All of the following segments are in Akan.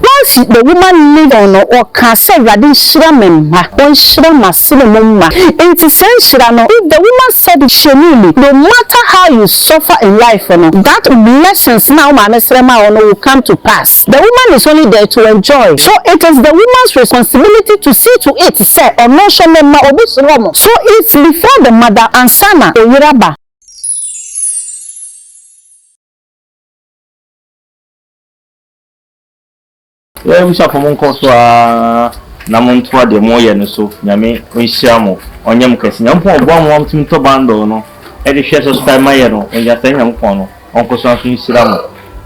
Woafi me woma Lebanon no ɔkaa sɛ Awurade nhyira me mma, ɔnhyira m'asene mu mma, enti saa nhyira no, if the woman said it hyɛ ne mu, no matter how you suffer in life no, that blessings no a wo maame srɛ maa wo no will come to pass, the woman is only there to enjoy, so it is the woman's responsibility to see to it sɛ ɔno nso ne mma obi soro wɔn, so it's before the mother ansa na ɔyere aba. Yɛn abusuafo mo nkɔ so aa na mo ntoa deɛ mo yɛ no so nyame nhyira mo ɔnyɛ mo kɛse nyankopɔn ɔboa mo ma mo tumi tɔ bundle no ɛde hwɛ sɛ sika ma yɛ no ɔnya sɛ nyankopɔn no ɔnkɔ so nso nhyira mo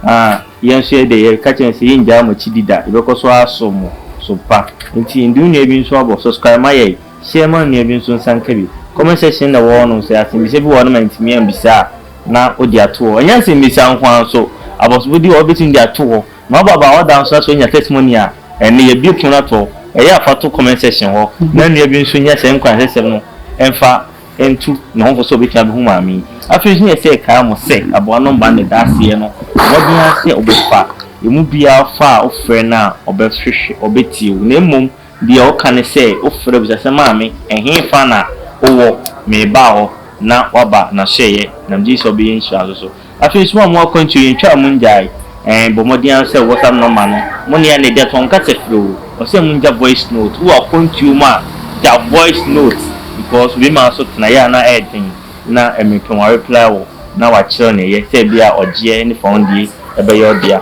aa yɛn nso yɛ deɛ yɛ ka kyɛn sɛ yɛn gyaa mo akyi di da yɛbɛkɔ so aso mo so pa nti yɛn de wo nua bi nso abɔ subscribe ma yɛ hyɛ ma nua bi nso nsa nka bi comment section na ɛwɔ hɔ no sɛ asɛmbisa bi wɔ hɔ no ma ntumi ambisa a na ɔde ato hɔ. Ɛnyɛ nsɛmmisa nko ara nso, abɔsofo di hɔ a wobetumi de ato hɔ. Na wobɔ abaa ɔda nso na sɛ onya testimony a, ɛnde yɛbue pon no to hɔ. Ɛyɛ a fa to comment section hɔ na nua bi nso nya saa nkuranhyɛsɛm no mfa ntu ne ho fo sɛ obetumi abehu maame yi. Afei nso yɛ sɛ ɛkae mo sɛ aboa no mma ne daseyɛ no mmɔden ara sɛ ɔbɛfa emu biara fa a wofrɛ no a ɔbɛhwehwɛ, ɔbetie wo na mmom Deɛ ɔka ne sɛ, Wofrɛ bisa sɛ, Maame, ɛhefa na wowɔ? Merebaa hɔ, na waba, na hyɛeɛ, na megye di sɛ ɔbɛyɛ nhyira nso so. Afei nso, mo a mowɔ akwantuo, yɛntwa a monngyae. Ɛɛ, bɔ mmɔden ara sɛ whatsapp nɔma no. Mo ne ɛnne dɛ, to nkasa firi o. Ɔsɛ sɛ mongya voice note. Wowɔ akwantuo mu a, gya voice note, because obinom ara nso tena yɛ a na ɛyɛ den, na mmerɛ pɛ wɔareply wo, na wɔakyerɛ wo deɛ ɛyɛ, sɛ ebia ɔgyeɛ ne fɔnndie bɛyɛ wo dea.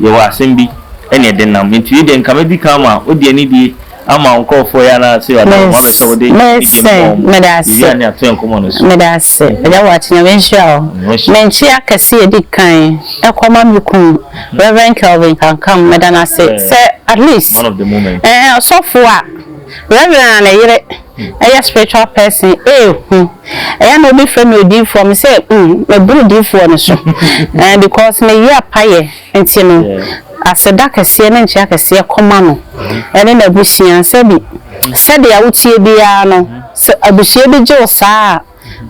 Yɛwɔ asɛm bi ɛne ɛde nam nti wei deɛ nka mɛdi kan ama wode anidie ama wo nkorɔfoɔ yi anaasɛ wada wo ho abɛ sɛ wode anidie ma wɔn mo yɛwia ne atoɛ nkɔmmɔ no so. Meda ase Agya Boakye Nyame nhyira wo. Me nkye akɛse a ɛdi kan ɛkɔ ma me kunu Rev. Kelvin Kankam meda no ase sɛ at least ɛɛ ɔsɔfo a Rev. a ne yere. ɛyɛ spiritual person ee hu ɛyɛ a na wɔn frɛ me odiifoɔ me sɛ mm me boro odiifoɔ no so ɛɛ because me yɛ apayɛ nti no aseda kɛseɛ ne nkyea kɛseɛ kɔma no ɛne n'abusua sɛbi sɛdeɛ wotie biara no sɛ abusua bi gye wo saa a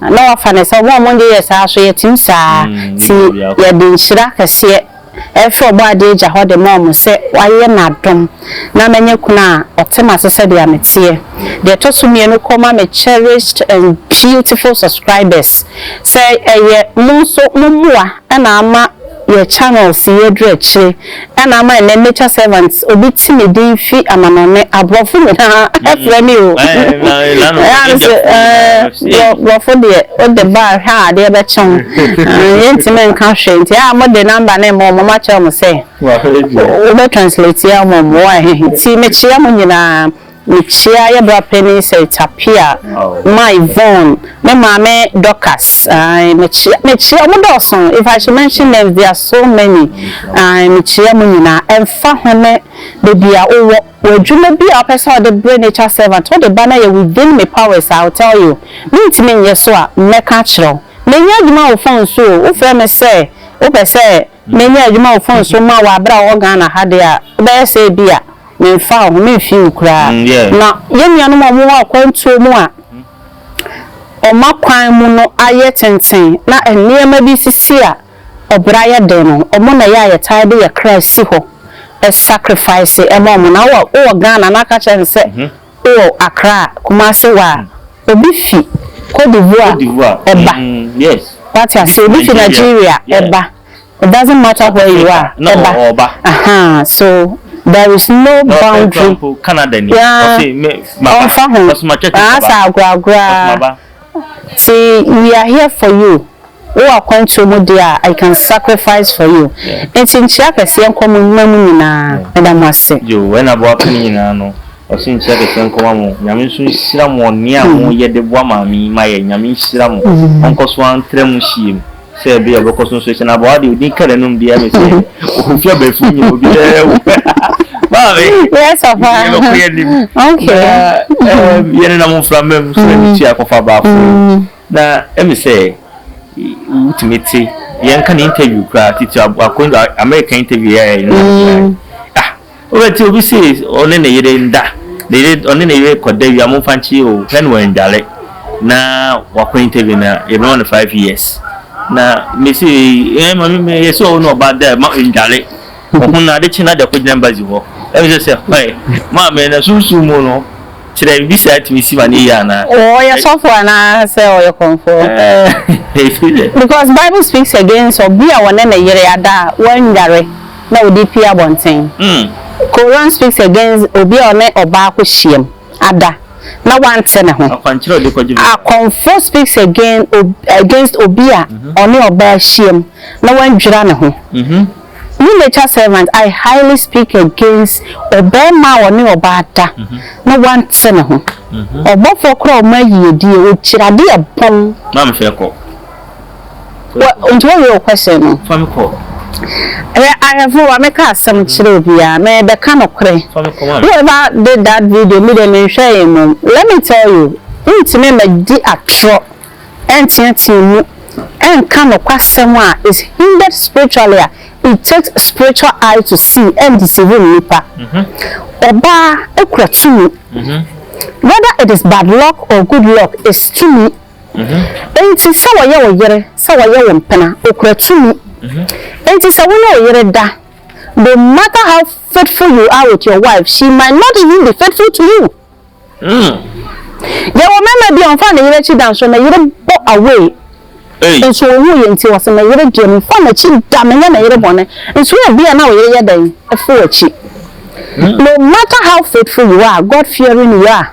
na wafa no sɛ ɔmo a ɔmo de yɛ saa so yɛtim saa ti yɛde nhyira kɛseɛ ɛfiri ɔbɔ adeɛ agya hɔ de ma ɔmo sɛ wayɛ nadom na manya kunu a ɔte mase sɛdeɛ meteɛ deɛ ɛtɔ so mmienu kɔ ma me cherished and beautiful subscribers sɛ ɛyɛ mo nso mo mmoa na ama yɛ channels yɛ dwerɛkyire ɛna ama ɛnɛ nature servant obi ti ne din fi amanɔne abrɔfo nyinaa ɛfrɛ me o brɔfo deɛ wode ba hwɛ a adeɛ bɛkye ho yɛntimi nka hwɛ nti a mode number ne mmɔ mɔma kyerɛ mo sɛ wobɛ translate ya mɔ mmoa ti mekyeɛ mo nyinaa Mekyia yɛ bra panin sɛ Tapia, my Yvonne, me maame Dorcas ae mekyia mekyia ɔmo dɔɔso if I should mention names they are so many ae mekyia mo nyinaa ɛnfa ho ne baabi a wowɔ wɔ adwuma bi a wopɛ sɛ wode bere nature servant wode ba na yɛ within me powers I will tell you mentumi nyɛ so a mɛka akyerɛ wo menya adwuma wo phone so o wofrɛ me sɛ wopɛ sɛ menya adwuma wo phone so ma wo a bere a wowɔ Ghana ha deɛ a wobɛyɛ sɛ ebia Memfa wo ho, memfi wo koraa. Na yɛn nuanom a wɔwɔ akwantuo mu a wɔn akwan mu no ayɛ tenten na nneɛma bi sisi a ɔbra yɛ den no, wɔn na ɛyɛ a yɛtaa de yɛn kra si hɔ sacrifice ma wɔn. Na wowɔ wowɔ Ghana na aka kyerɛ me sɛ wowɔ Accra, Kumasi hɔ a, obi fi Cote d'Ivoire ba, wate aseɛ, obi fi Nigeria ba. it doesn't matter where you are, ɛba, ahaa, so there is no boundary, yeah, ɔmfa ho, asa agoragoraa, ti we are here for you, wo akwantuo mu deɛ a, I can sacrifice for you, nti nkyia kɛseɛ nkɔ mu mma mu nyinaa, ɛda mo ase. Yo, ɛna boa pene nyinaa no, ɔsi nkyia kɛseɛ nkɔ ma mo, nyame nso nhyira mo, ɔnea mo yɛ de boa maame yi ma yɛ, nyame nhyira mo, ɔnkɔ so antra mu hyia mu. sɛ ebia ɔbɛkɔ so nso hyɛ na bɔa deɛ ɔdin ka n'anum deɛ me sɛ ɔfi abɛfiri nyɛ obi dɛ wo maame yɛbɛkɔ yɛ nim na yɛne nam mframa mu so ɛne tua kɔfa baako na ɛme sɛ wotumi te yɛnka ne interview koraa titi akɔnda america interview yɛ yɛ no ah Wobɛte obi se ɔne ne yere nda, ne yere, ɔne ne yere kɔda wie a, momfa nkyere o, hwɛ no wandware na wako interview na yɛbɛma no five years. Na mese, eh, ma me, me yɛsɛ ɔwo ne ɔba da ma ndware. Ɔho na ade kye na de akɔgyina embassy hɔ. Ɛmi sɛ sɛ, hɔe, maame na sunsun mu no, kyerɛ me bisa atumi si ma ne yie anaa? Ɔyɛ sɔfo anaa sɛ ɔyɛ kɔmfoɔ? Eh, Because Bible speaks against ɔbea a ɔne ne yere ada a wandware. na ɔde pue abɔnten. Koran speaks against obi a ɔne ɔbaa kɔ hyiam ada na wante ne ho. Akɔmfo speaks again against obi a ɔne ɔbaa hyiam na wandwira ne ho. Me nature servant I highly speak against ɔbarima a ɔne ɔbaa da na wante ne ho. Ɔbɔfoɔ kora ɔma yiedie, ɔkyiri adeɛ bɔn. Wɔ ntumi nwie wo question no. Fa me kɔ. Hwɛ ahwɛfo wa meka asɛm kyerɛ obiaa me bɛka nokorɛ Fa me kɔ who ever did that video me deɛ me nhwɛɛ mmom let me tell you wo ntumi mɛ di atorɔ ɛnteatea mu ɛnka nokwa sɛm a is hindered spiritually a it takes spiritual eye to see ɛn deceive nnipa ɔbaa kura tumi whether it is bad luck or good luck is tumi. Enti sɛ wɔyɛ wo yere, sɛ wɔyɛ wo mpena, okura tumi. Enti sɛ wo ne wo yere da, no matter how faithful you are with your wife, she might not even be faithful to you. Yɛwɔ mmarima bi a ɔmfa ne yere akyi da nso ne yere bɔ away. Nso owu yɛ nti wɔsɛ ne yere deɛ mfa n'akyi da menyɛ ne yere bɔne. Nso yɛ bi a na wo yere yɛ dɛn? Ɛfo akyi. No matter how faithful you are, God fearing you are.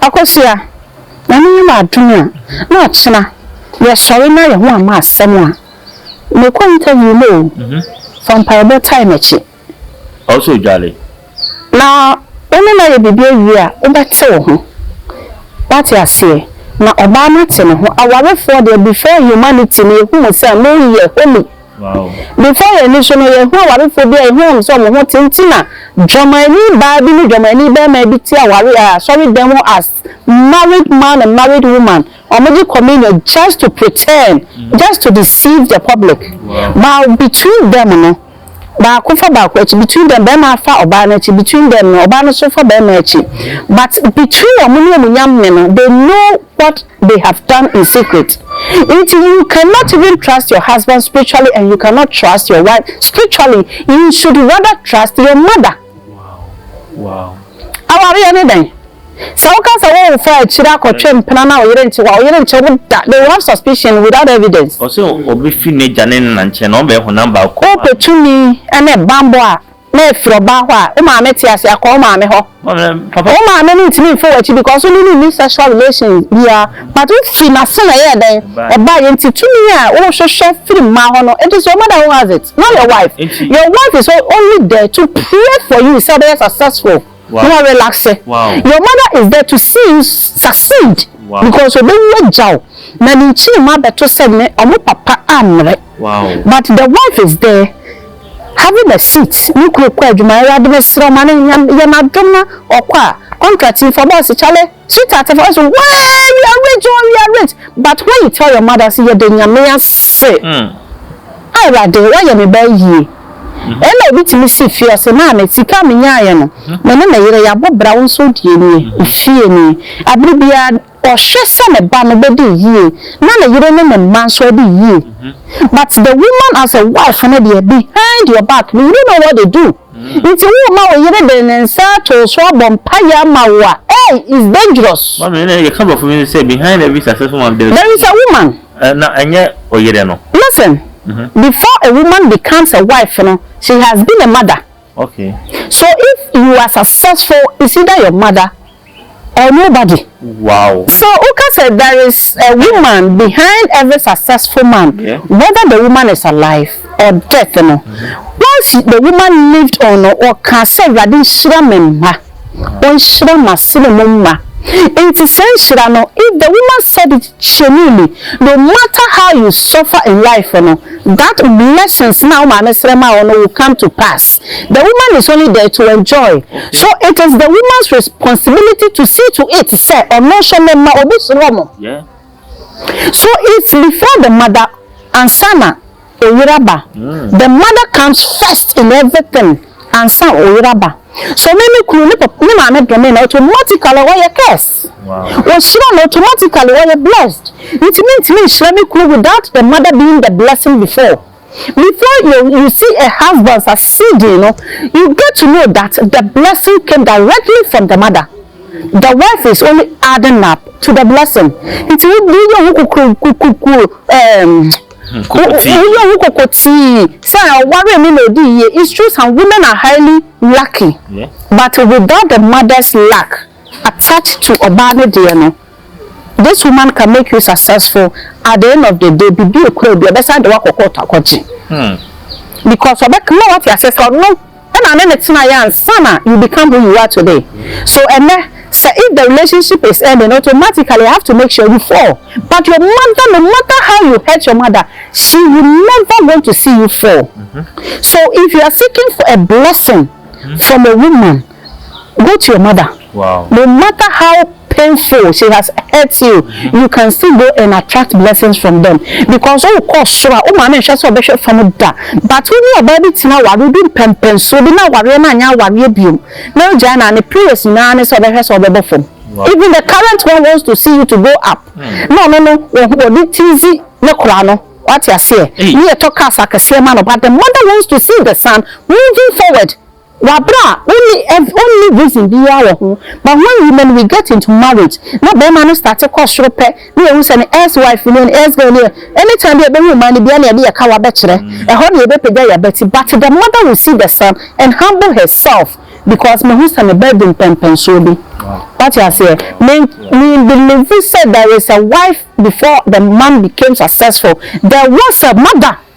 Akosua, Nyame yɛ m'adom a, na ɔkyena yɛsɔre na yɛho amma asɛm a, mekɔ interview no o, fa mpaebɔ tae m'akyi. Ɔsɔ Odwale. Na wo ne no ayɛ biribi awie a, wobɛte wo ho. Woate aseɛ? Na ɔbaa no ate ne ho. Awarefoɔ deɛ before humanity no yɛhu mo sɛ moyɛ holy. Before yɛn ani so no, yɛhu awarefoɔ bi a yɛhu wɔn sɛ wɔn ho te nti na dwamanni baa bi ne dwamanni barima bi te aware a asɔredan mu as married man and married woman wɔn gye communion just to pretend just to deceive the public but between them no baako fa baako akyi between them barima afa ɔbaa no akyi between them no ɔbaa no so fa barima akyi but between wɔn ne wɔn nyamne no they know what they have done in secret nti you cannot even trust your husband spiritually and you cannot trust your wife spiritually you should rather trust your mother awareɛ ne dɛn sɛ woka sɛ wo wofa akyiri akɔtwe mpena na ɔyere nkye wa ɔyere nkyɛ wo da they will have suspicion without evidence ɔsɛ ɔbɛfiri n'agya ne ne na nkyɛn na ɔbɛyɛ honam baako wopɛ tumi ne bammɔ a na efiri ɔbaa hɔ a, wo maame te ase akɔ wo maame hɔ. Wo maame no ntumi mfa w'akyi because wo ne no nni sexual relation biara but wo firi n'ase na ɛyɛɛ dɛn? Ɛbaeɛ. Nti tumi a wo hwehwɛ firi mmaa hɔ no, it is your mother who has it, not your wife. Your wife is only there to pray for you sɛ wobɛyɛ successful. na wa relaxe, your mother is there to see you succeed because obewu agya wo na ne nkyirimu abɛto sɛ ne ɔmo papa ammrɛ but the wife is there having a seat ne kunu kɔ adwuma awurade mesrɛ ma no yɛ n'adom na ɔkɔ a contract yi fa boss kyale Sweetheart of us wee we are rich oh we are rich but when you tell your mother say yɛda nyame ase awurade wayɛ me baa yie ɛna obi tumi si fie ɔse maame sika a menyaeɛ no me ne me yere yɛabɔ bra wo nso deɛ nie wo fie nie abere biara ɔhwɛ sɛ ne ba no bɛdi yie na ne yere ne ne mma nso adi yie but the woman as a wife no deɛ behind your back no you don't know what they do. Nti wo ma wo yere de ne nsa ato wo so abɔ mpaeɛ ama wo a, ei, it's dangerous. Mami, ɛna yɛ ka brɔfo bi nso sɛ behind every successful man there is. There is a woman. Ɛ, na ɛnyɛ ɔyere no. Listen, before a woman becomes a wife no, she has been a mother. Okay. So if you are successful, it's either your mother Ɔno ba de. Wow. So woka sɛ there is a woman behind every successful man whether the woman is alive or death no once the woman lived on no ɔka sɛ awurade nhyira me mma ɔnhyira m'asene mu mma nti saa nhyira no if the woman said it Hyɛmu ni, no matter how you suffer in life no, that blessings no a wo maame srɛ maa wo no will come to pass. The woman is only there to enjoy, so it is the woman's responsibility to see to it sɛ ɔno nso ne mma obi suro no. So it's before the mother ansa na. Oyere aba. The mother comes first in everything ansa oyere aba. So me me kunu ne papa ne maame dɔ me na automatically ɔyɛ curse. Ohyira na automatically ɔyɛ blessed. Nti me ntumi nhyira me kunu without the mother being the blessing before. Before you you see a husband succeeding no you get to know that the blessing came directly from the mother. The wife is only adding up to the blessing. Nti wo yɛ ho kukuru kukuru ɛɛm. Woyɛ wo koko tii sɛ ɔwaree no na ɔdii yie it's true some women are highly lucky but without the mother's luck attached to ɔbaa no deɛ no this woman can make you successful at the end of the day biribi ɛkura obi a ɔbɛsan de wo akɔ court akɔgye because ɔbɛka ma woate aseɛ sɛ ɔno na ne no tenaeɛ ansa na you become who you are today so ɛnɛ sɛ if the relationship is ending automatically I have to make sure you fall but your mother no matter how you hurt your mother she will never want to see you fall so if you are seeking for a blessing from a woman go to your mother no matter how. painful she has hurt you you can still go and attract blessings from them because wo kɔ soro a wo maame nhwɛ sɛ ɔbɛhwɛ fam da but wo ne ɔbaa bi tena aware bi mpɛmpɛnsoɔ bi na awareɛ no anyɛ awareɛ biom na ogyae no a ne prayers nyinaa ne sɛ ɔbɛhwɛ sɛ ɔbɛbɔ fam even the current one wants to see you to go up na ɔno no wɔde tizi ne kora no wate aseɛ ne yɛtɔ cars akɛseɛ ma no but the mother wants to see the son moving forward Wɔ aber a onni ev onni reason biara wɔ ho but when women we get into marriage na barima no starte kɔ soro pɛ na yehu sɛ ne ex wife nie ne ex girl nie anytime bi a ebehu mmaa no bia na yɛde yɛ kawa bɛkyerɛ ɛhɔ na yɛbɛpagya yɛn abati but the mother will see the son and humble herself because mehu sɛ me ba di mpɛnpɛnsoɔ bi wate aseɛ me me believe sɛ there is a wife before the man became successful there was a mother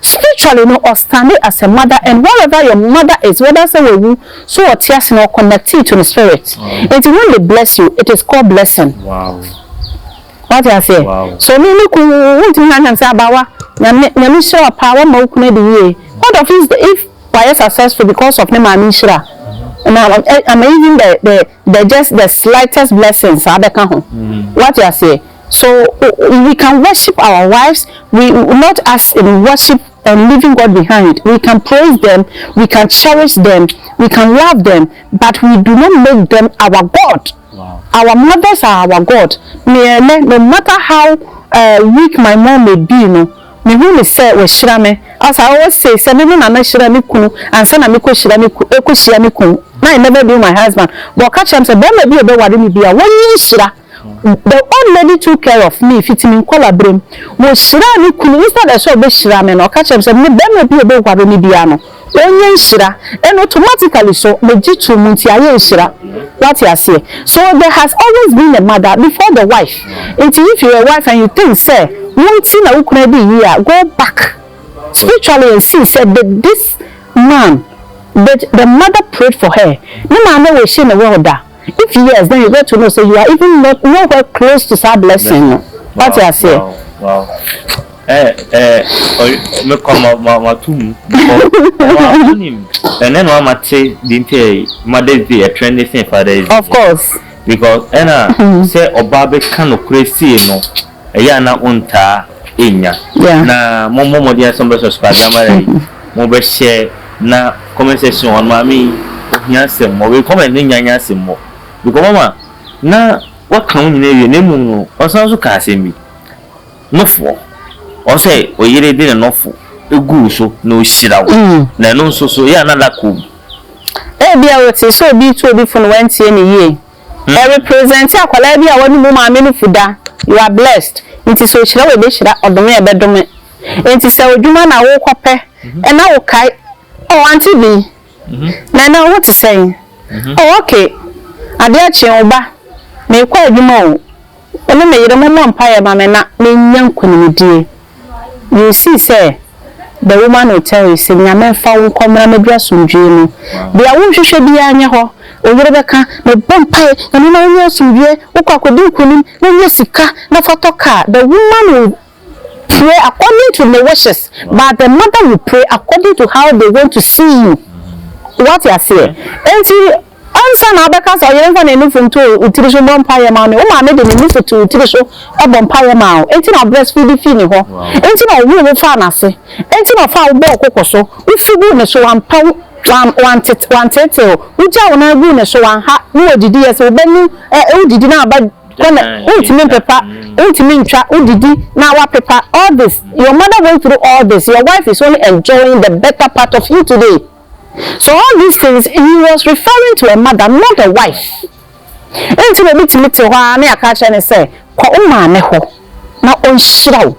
Spiritually no ɔ stande as a mother and whatever your mother is whether sɛ wawu so ɔte ase no ɔ connectee to ne spirit nti when they bless you it is called blessing wate aseɛ so me me kunu wontumi nka nkyɛn sɛ abaawa nyame nyame nhyira wo paa wama wo kunu adi yie what of if if wayɛ successful because of ne maame nhyira and I'm, I'm even the the the just the slightest blessing saa bɛka ho wate aseɛ So we can worship our wives we not as in worship and leaving God behind we can praise them we can cherish them we can love them but we do not make them our God our mothers are our God me ɛnɛ no matter how uh, weak my mom may be no me hu ne sɛ wahyira me as I always say sɛ me me na na hyira me kunu ansa na me kɔ hyira me kɔ hyia me kunu na I never knew my husband but ɔka kyerɛ me sɛ bɛrima bi a ɔbɛware me bi a wɔnyɛ nhyira The old lady took care of me fiti me nkɔlaberem. Wɔhyiraa ne kunu. Instead ɛ sɛ ɔbɛhyira me no, ɔka kyerɛɛ me sɛ, me barima bi a ɔbɛware me biara no, ɔnyɛ nhyira. Ɛnna automatically so, megye too mu nti ayɛ nhyira. Woate aseɛ? So there has always been a mother before the wife. Nti if you're a wife and you think sɛ wo nti na wo kunu adi yie a, go back spiritually and see sɛ did this man, did the mother prayed for her? Ne maame wishee no well da? If yes then you got to know say you are even not no where close to saa blessing no wate aseɛ. Wow wow me kɔ ma ma ma tu mu because wa onim ɛnɛ na ma te di nti ɛ mother's day ɛ trend sin father's day. Of course. Because ɛna sɛ ɔbaa bɛ ka no kure sie no. Ɛyɛ a na wontaa nnya. Na mommɔ mmɔden ara sɛ mobɛsɔ Super Grammar yi, mobɛhyɛ na comment section hɔ no maame yi ohia asɛm wɔ wei comment no nnya nyɛ asɛm wɔ because mama na waka wo nyinaa awie na mmom no ɔsan nso kaa asɛm bi nofoɔ ɔn sɛ ɔyere de ne nofo egu wo so na ɔhyira wo na ɛno nso so ɛyɛ a na luck wɔ mu. Ebia wote sɛ obi retu obi fo na wantie no yie. Ɔ represent akwadaa bi a w'anum maame no fu da, you are blessed nti sɛ ɔhyira wo ɛbɛhyira, ɔdome a ɛbɛdome nti sɛ odwuma na wo kɔ pɛ ɛna wo kae oh auntie bi na ɛnɛ wo ho te sɛn oh okay adeɛ kye wo ba me kɔ adwuma o. Wo ne me yere mommɔ mpaeɛ ma me na mennya nkonimdie. You see sɛ the woman will tell you sɛ Nyame mfa wo nkɔ mmra m'aduru asomdwoeɛ mu. Deɛ wohwehwɛ biara nyɛ hɔ. Wo yere bɛka, mebɔ mpaeɛ Nyame ma wonya asomdwoeɛ, wokɔ akɔdi nkonim na wonya sika na fa tɔ car. The woman will pray according to ne wishes but the mother will pray according to how they want to see you. Woate aseɛ? Enti. Ansa na wobɛka sɛ ɔyere mfa ne nufu nto wo tiri so mmɔ mpaeɛ mma wo no, wo maame de ne nufu too wo tiri so bɔ mpaeɛ maa wo. Enti na breastfeed fii ne hɔ. Enti na ɔwoo wo faa n'ase. Enti na ɔfaa wo bɔɔ wo koko so. Wofi guu ne so, wampɛ wo, wan, wan, wanteetee wo. Wogyaa wo nan guu ne so, wanha ne wɔ didiiɛ. Sɛ wo ba nu, ɛ, ɛ, wodidi na aba kɔ na wontumi mpepa, wontumi ntwa, wodidi na wapepa. All this, your mother went through all this, your wife is only enjoying the better part of you today. So all these things he was referring to a mother not a wife nti na obi tumi te hɔ ara na yɛaka akyerɛ no sɛ kɔ wo maame hɔ na ɔnhyira wo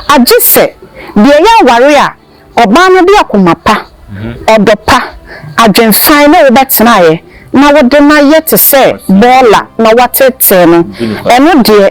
agye sɛ deɛ ɛyɛ aware a ɔbaa no de akoma pa, ɔdɔ pa, adwen fann ne wo bɛtenaeɛ na wode no ayɛ te sɛ bɔɔla na woatetee no ɛno deɛ.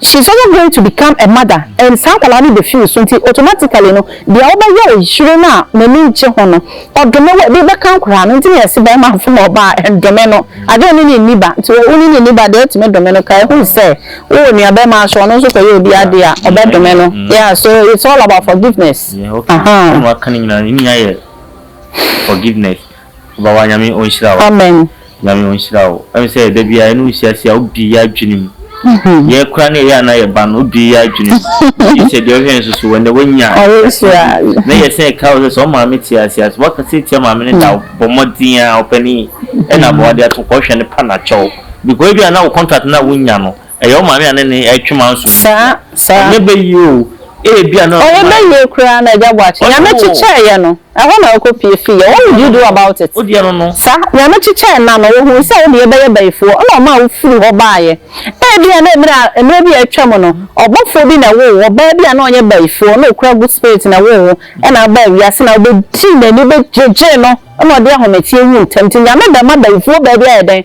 She is also going to become a mother and saa akwadaa no bɛfiri wo so nti automatically no deɛ wobɛyɛ wo yere no a n'ani ngye ho no ɔdome wo a ɛbi bɛka nkoraa no nti na yɛse barima mfom ɔbaa a ɛndome no adwene ne ne nni ba nti wɔ wo ne ne nni ba deɛ ɛtumi dome no kae hu sɛ wowɔ nuabarima nso ɔno nso kɔyɛ obi adeɛ a ɔbɛdome no yeah so it's all about forgiveness yeah okay aha. Ɛna waka no nyinaa no ne nyinaa yɛ forgiveness Obawa Nyame ɔnhyira wo. Amen. Nyame ɔnhyira wo. Ɛne sɛ da biara yɛne wo siasia a wobie yɛ adwene mu. Yɛn koraa ne ɛyɛ a na yɛba no wobie yɛ adwene mu. Gye sɛ deɛ ɔhwɛ nso so wɔ nnɛ wanya aseɛ. Na yɛsɛn ɛka wo sɛ sɛ ɔmaame te ase a sɛ waka sɛ tia maame no da a bɔ mmɔden a ɔpanin ɛna ama wade ato kɔhwɛ no pa na kyɛw. Because ebi a na wo contract no a wonya no. Ɛyɛ wo maame a ne nne retwe m'aso no nti a? Ɛnyɛ bɛ yie oo, ebia na ɔde ma yɛ. Ɔyɛ bɛ yie koraa na agya Boakye. Nyame kyekyɛɛ yɛ no, ɛhɔ na ɔkɔ pue fii yɛ. What did you do about it? Sa, Nyame kyekyɛɛ nna no, ɔhuu sɛ wo ne yɛ bɛyɛ bayifoɔ na ɔmaa wo firii hɔ baa yɛ. Ebia na mmerɛ a, mmerɛ bi a atwam no, ɔbɔfoɔ bi na ɛwoo wo, ɔbaa bi a na ɔnyɛ bayifoɔ, na ɔkura good spirit na ɛwoo wo, ɛna wobaa wiase na wobɛdii n'ani, wobɛgyegyee no, ɛna ɔde ahometeɛ wuu ntɛm nti Nyame bɛma bayifoɔ baa bi ayɛ dɛn?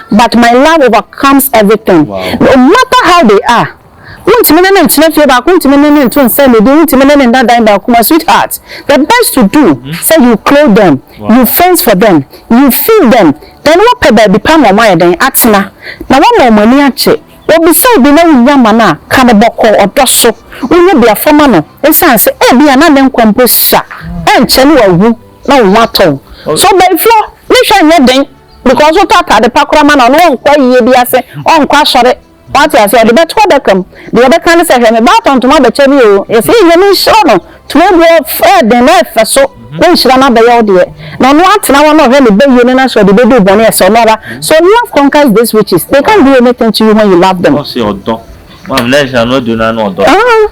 But my love overcomes everything no matter how they are Wontumi ne no ntena fie baako wontumi ne no nto nsa nnidi wontumi ne no nna dan baako my sweetheart the best to do sɛ you clothe them you fence for them you feed them then wopɛ baabi pa ma ɔmo ayɛ dɛn atena na woama ɔmo ani agye Obisa obi na wonnya ma no a ka no bɔkɔɔ ɔdɔ so wonyɛ biafra ma no esiane sɛ ebia na ne nkwa mpo sua ɛnkyɛ na wawu na wo ho atɔ wo so baifo ne hwɛ nyɛ den. because wotɔ ataade pa koraa ma no a, ɔno ɔnkɔ ayiyɛ bi ase, ɔnkɔ asɔre. Wate aseɛ? Ɔde bɛto adaka mu. Deɛ ɔbɛka ne sɛ, hwɛ me ba atɔ ntoma abɛkyɛ me o. Yɛsɛ yɛn nyame nhyira no. Ntoma egu hɔ, ɛyɛ den na ɛfɛ so. Na nhyira no abɛyɛ wo deɛ. Na ɔno atena hɔ na ɔhwɛ ne ba yie no na sɛ ɔde bɛduru bɔne a, ɛsɛ ɔno ara. So love conquers these witches. They can't do anything to you when you love them. Ɔse ɔdɔ. Maame, na nhyira no adu no ara na ɔdɔ. Ah!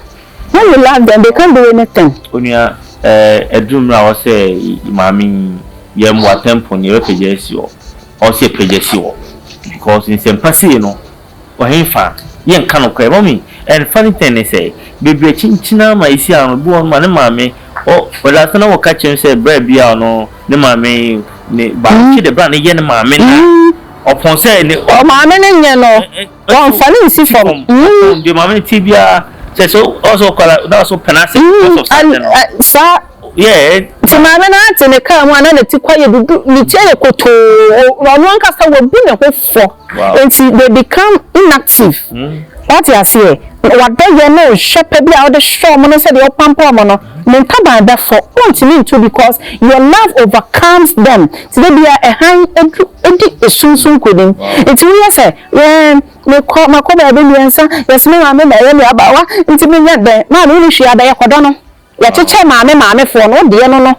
Why you love them they can't do anything. Onua eh ɛduru mmerɛ a wɔ sɛ maame yi yɛ mmoa temple no yɛbɛ pagya asi hɔ ɔwɔ sɛ yɛ pagya si hɔ because nsɛmpa sei no ɔhenfa yɛ nka nokorɛ mummy and funny thing ne sɛ bebree akyinkyini ara ma ɛsi ha no obi wɔ hɔ nom a ne maame ɔ ɔde asɛ na wɔ ka kyerɛ no sɛ berɛ bi a ɔno ne maame ne baako kye dɛ berɛ a ne yɛ ne maame na ɔpɔn sɛ ne ɔ maame ne nyɛ no. Wɔmfa no nsi fam. Mm. Deɛ maame no ti biara kyɛ sɛ ɔsɛ ɔkɔla na ɔsɛ ɔpɛn ase because of something no. Saa. Yeah. Nti maame no ate ne kaa mu a na ne ti kwa yɛ dudu ne ti yɛ kotoo ɔno ankasa wabu ne ho fɔ. Nti they become inactive. Mm. Wate aseɛ wadɔ yɛ ne ɔhwɛ pɛ bi a ɔde hwɛ ɔmo no sɛdeɛ ɔpampa ɔmo no ne ntaban bɛfɔ ɔntumi ntu because your love overcomes them ti de bia ɛhan edu edi esunsun konim nti woyɛ sɛ. Yɛɛ, mekɔ, makɔ baabi mmiɛnsa, yɛse me maame na ɛyɛ me abaawa, nti menyɛ dɛn? Maame wonni hwee abɛyɛ, kɔdɔ no. Yɛkyekyɛ maame maamefoɔ no, wodeɛ no no.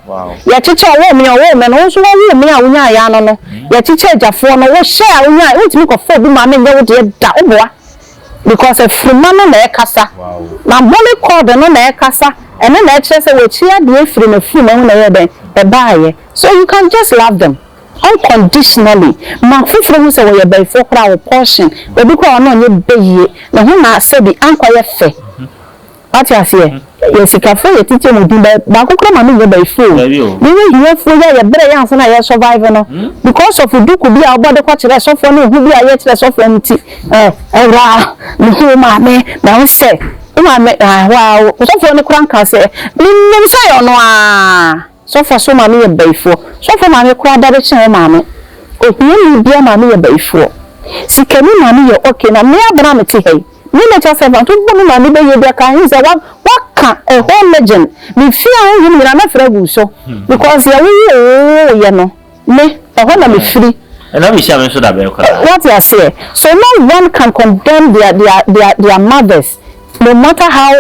Yɛkyekyɛ ɔwoo me a ɔwoo me no, wo nso wɔwoo me a wonyaaeɛ ano no. Yɛkyekyɛ agyafoɔ no, wo hyɛ a wonyaaeɛ, wontumi nkɔfa obi maame nyɛ wo deɛ da, woboa. Because afirima no na ɛkasa. N'abɔne cord no na ɛkasa, ɛno na ɛkyerɛ sɛ w'akyi adeɛ firi n'afirima mu na ɛyɛɛ dɛn? Ɛbaeɛ. So you can just love them. Unconditionally, ma afoforɔ hu sɛ wɔyɛ bayifoɔ koraa wo portion, obi koraa ɔno ɔnyɛ bayie, ne ho na asɛ bi, ankɔ yɛ fɛ, wate aseɛ, yɛ sikafoɔ yɛ titi ɔmo din bɛ, baako koraa ma me nyɛ bayifo o, yɛ yɛ hiafoɔ yi a yɛ brɛ yɛ ansa na yɛ survive no, because of duku bi a wo bɔ de kɔ kyerɛ sɔfoɔ ne ehu bi a yɛ kyerɛ sɔfoɔ no nti, eh, awuraa, me hu wo maame, na wo sɛ, wo maame, ah, waa, osɔfoɔ no koraa nkaa sɛ, me nim sɛ ɛyɛ ɔno aa. Sɔfoɔ so maame yɛ bayifoɔ. Sɔfoɔ maame koraa da bɛkyɛ wo maame. Ohiani biara maame yɛ bayifoɔ. Sikani maame yɛ ok na me abena a mete ha yi me natural self anto bɔ me maame bɛyie bi a ka he sɛ wa wa ka a whole legend me fie a honhom nyinaa mɛfrɛ agu so because yɛ wo wo wo yɛ no me ɛhɔ na me firi. Ɛna me hyia me nso da bɛn koraa. Wate aseɛ so no one can condemn their their their their mothers no matter how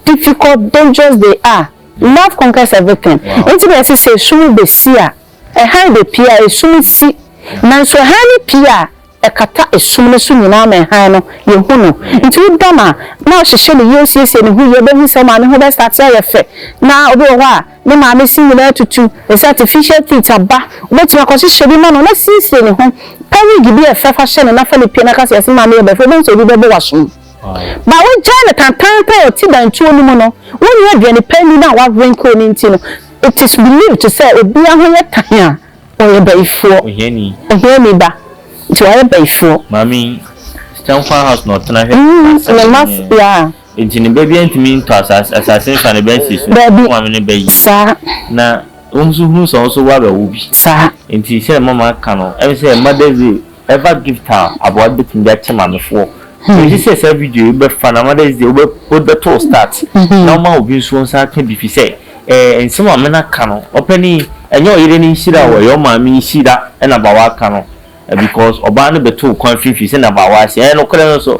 difficult dangerous they are. Love conquers everything enti na yɛse sɛ esum besi a ɛhan bepue a esum si nanso ɛhan no pue a ɛkata esum no so nyinaa ma ɛhan no yɛhu no nti woda no a na ɔhyehyɛ ne yie ɔsiesie ne ho yie wobɛhu sɛ wo maame ho bɛ starte ayɛ fɛ na obi wɔ hɔ a ne maame se nyinaa atutu ɛsɛ artificial teeth aba wobɛtumi akɔhyehyɛ bi ma no na siesie ne ho pɛ wig bi a ɛfɛ fa hyɛ no na fa no pue na ka sɛ yɛse maame yɛ bɛfɛ wobɛhu sɛ obi bɛbɔ w'asom. Ma wogyae no tantaanta wɔ tibantuo no mu no wonni aduane pa nni no a wawere nkuro no nti no it is believed sɛ obia ho yɛ tan a ɔyɛ bayifoɔ Ohiani. ohiani ba nti wayɛ bayifoɔ. Maame yi, Stankwah House na ɔtena hwɛ Mm asase ne mma nyinaa. yeah. Enti ne ba biara ntumi ntɔ asase asase mfa ne ba nsi so. Daabi. Wo maame ne ba yie. Saa. Na wo nso hunu sɛ wo nso woabɛwo bi. Saa. Enti sɛdeɛ mama aka no, ɛne sɛ mother will. Ɛfa gift a aboa no bɛtumi de akyɛ maamefoɔ. Megye sɛ saa video yi wobɛfa na mother's day wobɛtoo start na woma obi nso nsa aka bi firi sɛ nsɛm a mena ka no ɔpɛni ɛnyɛ ɔyere no nhyira o ɛyɛ ɔmaame nhyira na abaawa ka no because ɔbaa no bɛtoo kwan finfin sɛdeɛ abaawa se ɛyɛ nokorɛ no nso.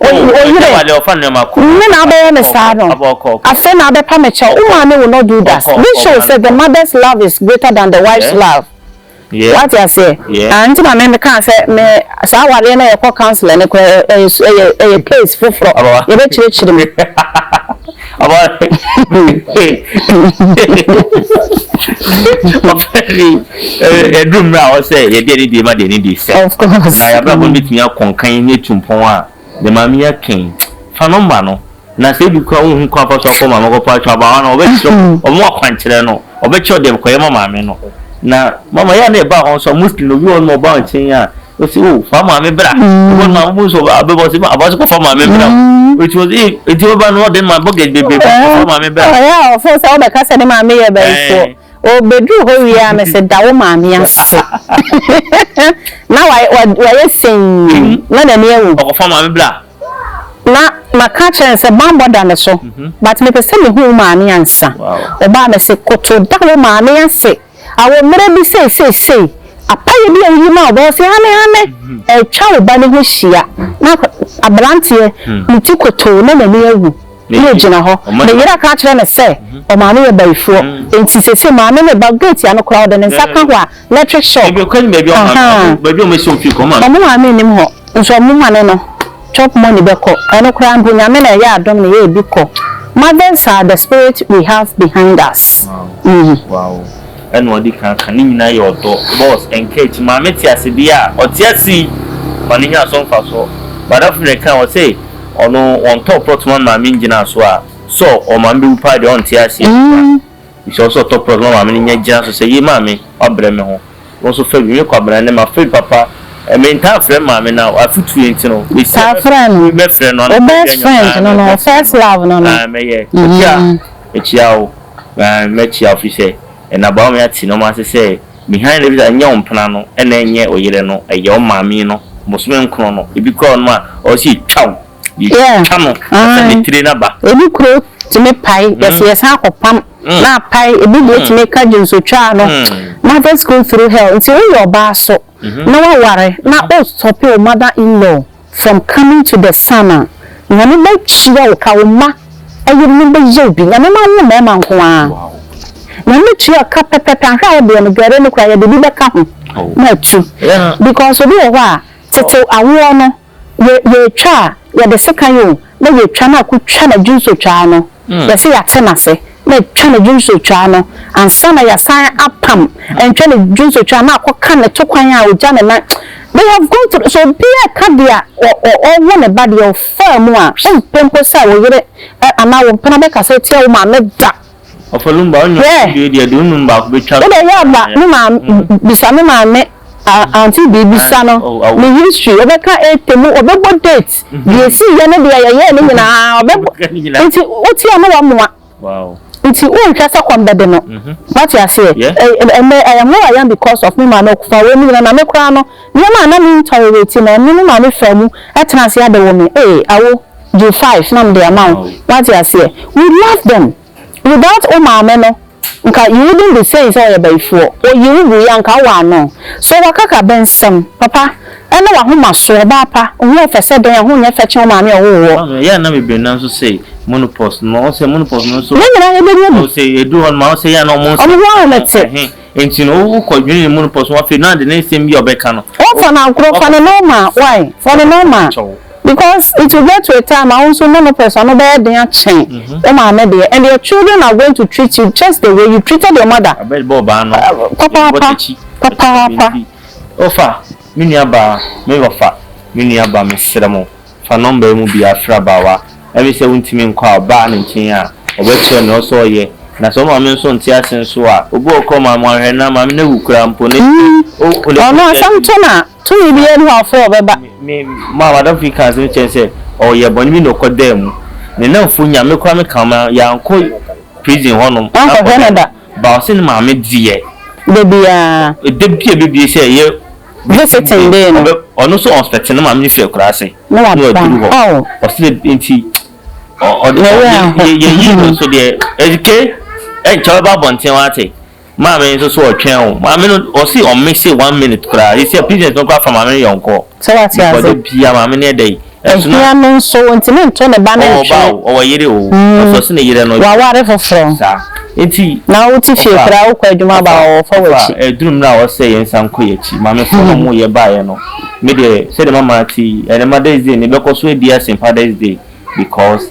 O me yere, nnɛ na wobɛyɛ me saa no? Afei na wobɛpa me kyɛw? Wo maame wo no do da? This shows sɛ the mother's love is greater than the wife's love. Woate aseɛ? Aah nti na me me kaa sɛ me saa awareɛ no a yɛkɔ counselor no koraa ɛyɛ ɛyɛ ɛyɛ case foforɔ, yɛbɛkyerɛkyerɛ mu. ɛduru mmerɛ a ɔsɛ yɛde ɛne deɛ ma deɛ ne deɛ sɛ na yɛabrabɔ no bɛtumi akɔ nkan ne atu mpɔn a ne maame yɛ kɛn fa no ma no na sɛ ebi kora wohu kwan fa so akɔ maame kɔpa atwa abawa no ɔbɛkyerɛ ɔmo akwankyerɛ no ɔbɛkyerɛ ɔdeɛ kɔyɛ ma maame no na mama yɛ a na ɛba hɔ nso muslim obi wɔ no ɔba nkyɛn a Ɔsi o fa maame bra. Ɔbɔ no maame bu so abɛbɔ ɔsi ma abɔ so kɔ fa maame bra. Ɔsi ɔsi ee eti ɔba no ɔde ma bɔkɛt bebree fa fa maame bra. Ɔyɛ a ɔfo sɛ ɔbɛka sɛ ne maame yɛ bayifoɔ. Ɔbɛduru hɔ wie a mese da wo maame ase. Na wa wa wayɛ sɛnn na n'ani awu. Ɔkɔ fa maame bra. Na maka akyerɛ no sɛ banbɔ da ne so but mepɛ sɛ mehu wo maame ansa. Ɔbaa mese koto da wo maame ase. a wɔ mmerɛ bi sɛ seesei apayɛ bi a woyi ma ɔbaa ɔse hane hane ɛretwa wo ba no ho hyia na aberanteɛ ne ti kotoo na n'ani awu na ɔgyina hɔ ne yere aka akyerɛ no sɛ ɔmaame yɛ bayifoɔ nti seesei maame no reba gate ano koraa ɔde ne nsa ka hɔ a electric shock ahaa ɔmo maame nnim hɔ nso ɔmo ma no no. Chop money bɛkɔ. Ɛno koraa mpo Nyame na ɛyɛ adom na yɛɛbi kɔ. Mothers are the spirit we have behind us. Wow ɛna ɔde kan ka ne nyinaa yɛ ɔdɔ boss encourage maame te ase deɛ a ɔte ase yi ma no nya so mfasoɔ madamfo na ɛka ɔse ɔno wɔntɔ plot ma no maame ngyina so a sɛ ɔmaame bɛwu paa deɛ ɔnte aseɛ Bisa wo sɛ ɔtɔ prɔt ma maame no nya gyina so sɛ, Yei maame, woabrɛ me ho. Wo nso fa bi. Me Kwabena, ɛnnɛ m'afraid papa. Mentaa frɛ maame no a, w'afotuo nti no, mesia mɛfrɛ no. Taa frɛ no. Mɛfrɛ no anɔpa biara nyɔnko. Wo best friend no no, wo first love no no. Aane, mɛyɛ. Ɔkyea a, mekyea wo. Aane, mɛkyea wo firi sɛ, ɛna baa ɔme ate nnoɔma ase sɛ, Behind every success, ɛnyɛ wo mpena no na ɛnyɛ wo yere no, ɛyɛ wo maame no. Bosome nkron no, ebi koraa wɔ nom a, ɔwɔ sɛ yɛtwa wo. yɛtwa no sɛ ne tire no aba. Ebi kuro tumi pae, yɛsɛ yɛsan kɔ pam, na apae, ebi deɛ tumi ka gyensotwaa no, mothers go through hell, nti woyɛ ɔbaa so na waware na o stop wo mother in law from coming to the son a, Nyame bɛtua wo ka, wo mma yerenom bɛyɛ wo bi, Nyame mma wo mmarima nko ara, Nyame bɛtua wo ka pɛpɛpɛ, anhwɛ a wodeɛ no dware no koraa yɛde bi bɛka ho na atu, because obi wɔ hɔ a tete awoɔ no. Yɛ yɛtwa a yɛde sekan o na yɛtwa na ako twa na dwinso twaa no yɛse yɛate no ase na twa na dwinso twaa no ansa na yɛasan apam ntwa na dwinso twaa na akɔ ka ne to kwan a ogya ne nan they have gone through so obi a ka deɛ a ɔwo ne ba deɛ ɔfaa mu a wompɛ mpo sɛ wo yere anaa wo mpena bɛkasa atia wo maame da. Wobɛhwɛ aba me maame bisa me maame auntie bee bisa no me history ɔbɛka ete mu ɔbɛbɔ date deɛ ɛsii yɛ ne deɛ yɛyɛɛ ne nyinaa ɔbɛbɔ nti wotie a na wamoa nti wonhwɛ sɛ kɔm bɛde no wate aseɛ ɛnɛ I am who I am because of me maame ɔkɔfa wei ne nyinaa na me koraa no nneɛma a na me ntolerate no ɛno ne maame faa mu tena ase abɛwɔ me ee awo. Gye five na mede ama wo wate aseɛ you love them without wo maame no nka you wouldn't be saying sɛ ɔyɛ bayifoɔ ɔyi wo guiɛ a nka wo waa no so wakaka bɛ nsɛm papa ɛne wahomasoɔ ɔbaa pa wo ho ɔfɛ sɛ dɛn a ho nyɛ fɛ kyɛn wo maame a ɔwoo woɔ. Ɔno yɛ a na bebree nan nso sɛ monopause no ɔsɛ monopause no nso ne nyinaa yɛbɛnya bi ɔsɛ ɛduru hɔ no ma ɔsɛ yɛ a na ɔmo nsa ɔmo ho ahomete. Enti no wo kɔ dwene ne mu no pɔ so afei no ade ne nsɛm bi a ɔbɛka no. Wo fa no agorɔ fa no normal why fa no normal because it will get to a time a wo nso ne no pressure no bɛyɛ den akyɛn wo maame deɛ and your children are going to treat you just the way you treated your mother papaapa papaapa. Ɔfa me nua baa me ɔfa me nua baa me srɛ mo. Fa nɔmba yi mu biara frɛ abaawa a ɛwɔ sɛ wontumi nkɔ ɔbaa no nkyɛn a, ɔbɛkyerɛ wo nea ɔwɔ sɛ ɔyɛ. Na sɛ wo maame nso nte ase nso a, obi wɔ hɔ koraa a, ɔma wɔahwɛ no, na maame no awu koraa mpo, na ɛtumi ma owu kɔ ne Ɔno asɛm to no a, tumi biara nni hɔ a ɔfrɛ a ɔbɛba. Me ma m'adamfo bi kaa asɛm bi kyerɛɛ me sɛ, ɔyɛ bɔne bi na ɔkɔdaa mu. Ne nnamfo nyaa no, me koraa mekaa wɔn a, yɛankɔ prison hɔnom ankɔhwɛ no da. But ɔse ne maame deɛ. Da biara. Da biara bɛbue sɛ yɛ. Bere fetee dee no. Ɔno nso ɔnfɛte no maame no firi akuraase na waduru hɔ ɔse dɛ nti yɛyi no nso deɛ ɛdike ɛnkyɛ ɔbɛba abɔnten wate maame nso so ɔtwɛn o maame no ɔse ɔmme se one minute koraa yɛsi a business no koraa fa maame no yɔnkɔ sɛ wate ase ɔde bia maame no ɛdɛ yi. Ohia no nso, ontumi nto ne ba no ntwene. Ɔwɔ ba o, ɔwɔ yere o, ɔsɛ ɔse ne yere no dwo. Waware foforɔ. Saa. Enti. Na wote fie koraa, wokɔ adwuma aba a, wɔfa w'akyi. Papa, papa, ɛduru mmerɛ a ɔsɛ yɛn nsa nkɔ yɛn akyi. Maame fo na wɔyɛ baeɛ no. Me deɛ, sɛdeɛ mama te yi, ɛnɛ Mother's Day no, yɛbɛkɔ so adi ase Father's Day because.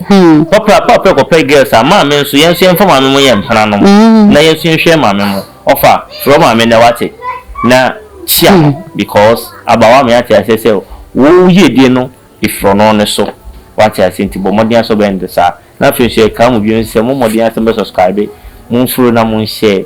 Papa pa pɛ kɔpɛ girls a maame nso yɛn nso yɛmfa maame mo yɛ mpenanom na yɛn nso yɛnhwɛ maame mo ɔfa frɛ wo maame nnɛ wate na kyia no because abawa me ate aseɛ sɛ wo yiedie no ɛfiri ɔno ne so wate aseɛ nti bɔ mmɔden ara sɛ wobɛyɛ no saa na afei nso yɛkaa mo bio nso sɛ mo mmɔden ara sɛ mobɛ subscribe monfolo na monhyɛ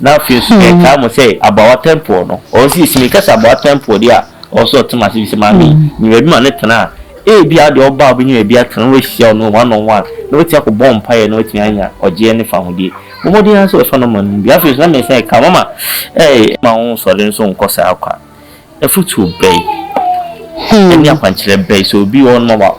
Na afei nso yɛtaa mo sɛ Abawa Tɛmpoɔ no, ɔwɔ sɛ yɛsi meka sɛ Abawa Tɛmpoɔ deɛ a, ɔwɔ sɛ ɔte mo ase ɛfiri sɛ maame yi, nya baabi ma no tena a, ebia wodeɛ wobaa a wobɛnya baabi atena na woahyia ɔno one on one na woatumi akɔbɔ mpaeɛ na woatumi anya ɔgyeɛ ne fahodie. Bɔ mmɔden ara sɛ wobɛfa no ma no mu bi. Afei nso na mɛsan aka, mama, ɛɛ, ma wonsɔre nso nkɔ saa kwa. afotuo bɛn ne akwankyerɛ bɛn sɛ obi wɔ hɔnom a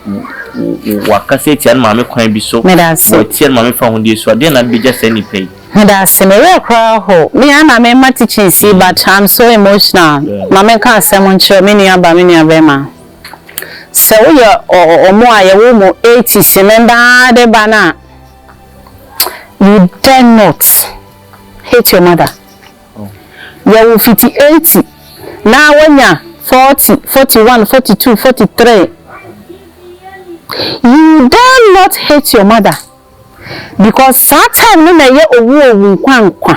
wakasa atia ne maame kwan bi so, watia ne maame fahodie so a, deɛ na bɛgya saa nipa yi? Meda ase, me werɛ koraa ho. Me ara na mema teachings yi but I'm so emotional. Ma menka asɛm nkyerɛ me nua ba, me nua bɛrima. Sɛ woyɛ wɔn a yɛwɔ mu 80s mmɛmba ara de ba no a, you dare not hate your mother. Yɛwo fiti eighty na wanya forty, forty one, forty two, forty three you dare not hate your mother because saa time no na ɛyɛ owu owu nkwa nkwa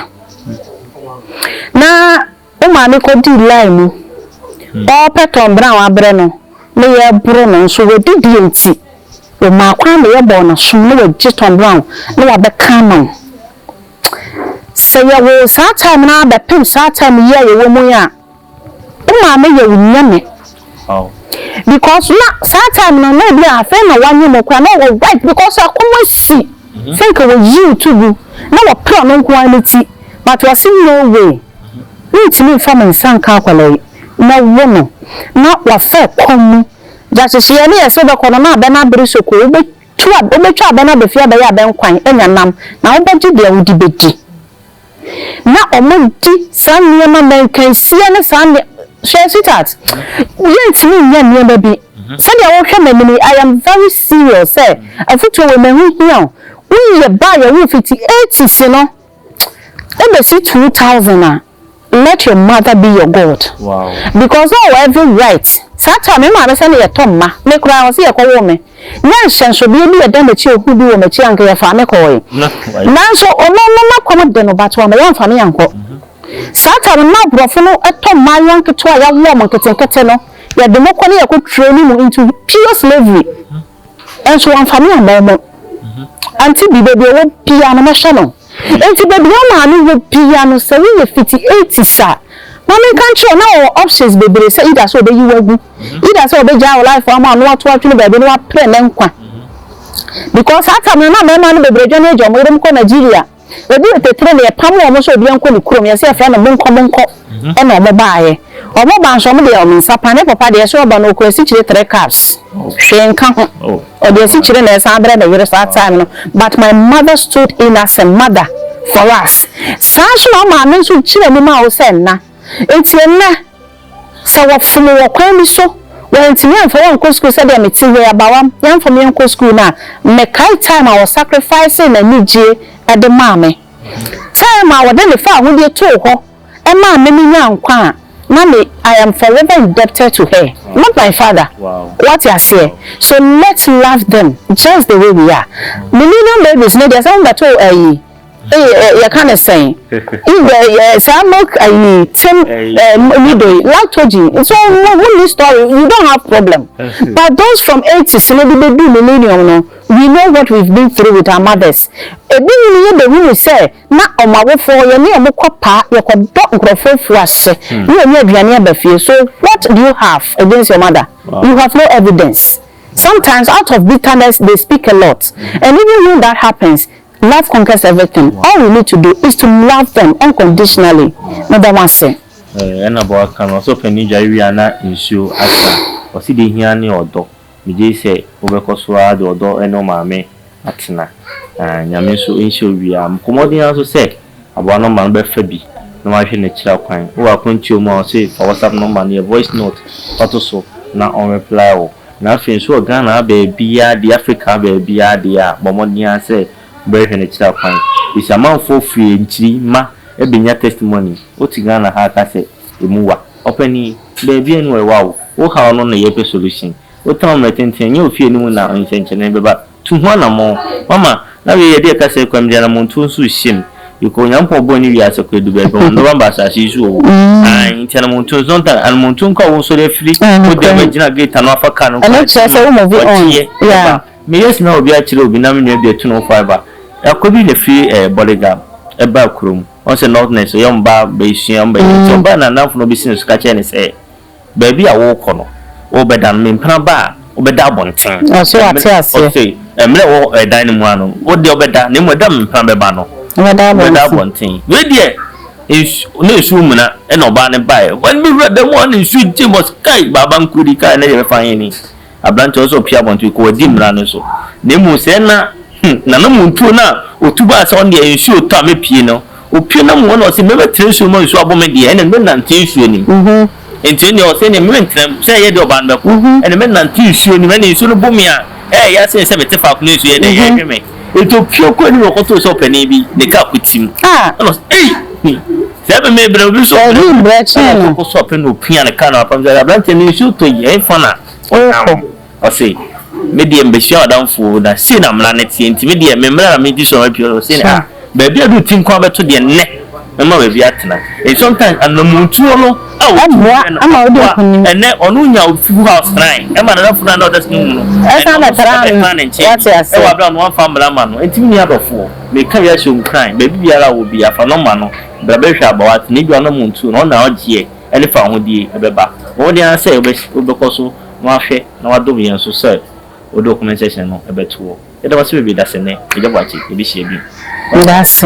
na wo maame kɔ dii line mu ɔɔpɛ tɔn bena wabrɛ no na yɛ boro no nso wadi deɛ nti wo maa kwan ma yɛ bɔɔ na som na wagye tɔn brown na wabɛka ama wo. Sɛ yɛwo wo saa time no ara bɛpem saa time yi a yɛwɔ mu yi a, wo maame yɛ wo nyame. Because na saa time no na ebi a afei na wanyɛ mu koraa na ɔwɔ right because akɔm asi mm-hmm. sɛ nka wɔyi wo to gu na wɔpere ɔno nko ara ne ti but wɔse no way mentumi mfa me nsa nka akwadaa yi na wo no na wafa kɔn mu gyakyehyeɛ ne yɛsɛ wobɛkɔ no na abɛ no abere soko wobɛ Tu a wobɛtwa abɛn no abɛfie abɛyɛ abɛn kwan anya nam, na wobɛgye deɛ wode bɛdi. Na wɔdi saa nneɛma mmankansie ne saa nneɛ, hwɛ sweetheart, yɛntumi nyɛ nneɛma bi sɛdeɛ wohwɛ m'anim yi, I am very serious sɛ afutuo wei m'ɛho hia wo. Woyɛ baa yɛwoo fiti eighties no ɛbɛsi two thousand a. let your mother be your God because ɔwɔ every right saa time me maame sɛne yɛtɔ mma me koraa ɔse yɛkɔwoo me nyɛ nhyɛnsodeɛ bi yɛda m'akyi ehu bi wɔ m'akyi anka yɛfaa me kɔɔe nanso ɔno no n'akɔm de no but wama yɛamfa me ankɔ saa time na aborɔfo no tɔ mmaayewa nketewa a yɛawoɔ mo nketenkete no yɛde mo kɔ ne yɛkɔ training mu into pure slavery Nso wamfa me ammɔ mo. Ante bi, baabi a ɔwɔ biara no, mɛhwɛ no. Enti baabi a ɔmaa no wɔ biara no, sɛ woyɛ fiti eighties a, ma menka nkyerɛ wo, na wɔwɔ options bebree sɛ either sɛ wɔbɛyi wo agu, either sɛ wɔbɛgyaa wo life ama wo na wɔato atwene baabi na wɔaprɛ ne nkwa. Because saa time no, na mmarima no bebree dwane agya wɔn yerenom kɔ Nigeria. Obi wɔ Tetere no yɛpam wɔn sɛ obiara nkɔ ne kurom yɛse yɛfrɛ no monkɔ monkɔ ɛna wɔn baeɛ wɔn baa nso wɔn deɛ wɔn nsa pa ne papa deɛ sɛ ɔba no ɔkura sikyire three cups hwee nka ho ɔde asikyire na ɛsan brɛ ne yere saa time no but my mother stood in as a mother for us saa nso na ɔmaame nso gyina mu ma wo sɛ nna enti ɛnnɛ Sɛ wɔfom wo wɔ kwan bi so, wɔantumi amfa wo ankɔ sukuu sɛdeɛ mete ha yi, abawam, yɛamfa me ankɔ sukuu no a, mekae time a wɔ sacrificee n'anigyie de maa me. Time a wɔde ne faa ahodie too hɔ maa me menyaa nkwa a, na me, I am forever indebted to her, not my father. Woate aseɛ? So let's love them just the way we are. Millennium babies no deɛ sɛ mommɛto ayi. Eii yɛka no sɛn ndɛ yɛ saa milk ayii tem ɛɛ nidoi lactogen nso mo mo ni story you don't have problem but those from eighties no de bɛ duu millennium no we know what we've been through with our mothers ebi nom yɛ bɛ hunu sɛ na ɔmo awofoɔ yɛ ne ɔmo kɔ paa yɛ kɔ dɔ nkorɔfoɔ afuo ase ne yɛ nya aduane aba fie so what do you have against your mother you have no evidence sometimes out of bitterness they speak a lot and even when that happens. Love conquers everything all we need to do is to love them unconditionally meda mo ase. Eeh ɛna bɔ aka no ɔsɛ ɔpanin dware wie a na nsuo asa ɔse deɛ hia ne ɔdɔ megyei sɛ wobɛkɔ so ara de ɔdɔ ne wo maame atena aah nyame nso nhyɛ wo wie a mkɔ mmɔden ara nso sɛ Aboa no ma no bɛfa bi na wahwɛ n'akyiri akwan. Wowɔ akwantuo mu a ɔse fa WhatsApp number no yɛ voice note fa to so na ɔn reply wo. Na afei nso wɔ Ghana ha baabiara deɛ Africa ha baabiara deɛ a bɔ mmɔden ara sɛ wobɛhwehwɛ n'akyiri akwan. Because amanfoɔ firi ankyiri ma ɛbɛnya testimony. Wote Ghana ha ka sɛ ɛmu wa. Ɔpanin, baabiara ni wɔ ɛwa o. Wo haw no na yɛpɛ solution. Wotena wo mmerɛ tenten a ɛnyɛ ofie no mu na nsɛnkyerɛnne bɛba. Tu ho anammɔn. Mama, na wei yɛde ɛkasa yi kɔm deɛna monto nso hyem bikɔ onyankopɔn ɔbɔɔ ne wiase kɔ ɛdu baabi ɔndɔ bamba asase yi so oo ae nti ana monto nso ntan ana monto nka wo nsɔre afiri wo dɛm agyina gate ano afa car no kwan wateɛ ɛba me yes na obi akyerɛ obi na me nua bi atu no fiber ɛkɔ bi na firi eh, body guard ɛba kurom ɔn sɛ northness yɛ ɔmbaa bɛsua ɔmbɛyɛ nti ɔbaa na nanfo no ɔbɛsi ne so ka kyerɛ ne sɛ Baabi a worekɔ no, worebɛda no, mempena ba a, wobɛda abɔnten. So wate aseɛ? Ɔse, mmerɛ ɛwɔ ɛdan no mu ara no, wo deɛ wobɛda, na mmom ɛda a mempena bɛba no, wobɛda abɔnten. Wei deɛ, nsu, na nsuo mmuna, ɛna ɔbaa no baeɛ. Wɔn bɛwura dan mu a, na nsuo gyem. Ɔse, kai, Baaba Nkrudi, kai, ɛnnɛ deɛ ɛbɛfa he ni? Aberante, ɔsɛ sɛ ɔpue abɔnten kɔ, wadi mmara no so. Na mmom sɛ ɛna, hmm, n'anamontuo no a ɔtu baa sɛ ɔno deɛ nsuo retɔ a mɛpue no, ɔpue na mmom ɛna ɔse mɛbɛtena nsuo mu ma nsuo abɔ me deɛ, ɛnneɛ mɛnante nsuo no mu. Enti ɛnneɛ ɔse ɛnneɛ merentena mu, sɛ ɛyɛ deɛ ɔbaa no bɛkɔ, ɛnneɛ mɛnante nsuo no mu, ɛnneɛ nsuo no bo me a, ɛyɛ ya sene sɛ mete faako no a nsuo yɛ dɛ, ɛhwe me. Enti ɔpue kɔɔ anim na ɔkɔtoo sɛ ɔpanin bi, ne kaa kɔtim. Ɛna ɔse, Ei! Ɔwee mbrɛ kyɛn no. Ɛboa ma wode nkunim. Ɛsan bɛtra no, wate aseɛ. Meka bi akyerɛ wo nkuran, baabi biara a ɔwɔ biara, fa nɔma no bra bɛhwɛ aba wate, ne dwanom nto no, ɔna ɔgyeɛ ɛne fawohodie ɛbɛba. Bɔ mmɔden ara sɛ wobɛkɔ so na wahwɛ na wadom yɛn nso sɛ wode wo comment section no ɛbɛtoɔ. Yɛda wo ase bebree dasɛnɛ, Agya Boakye, yɛbɛhyia bio. Wate. Dase.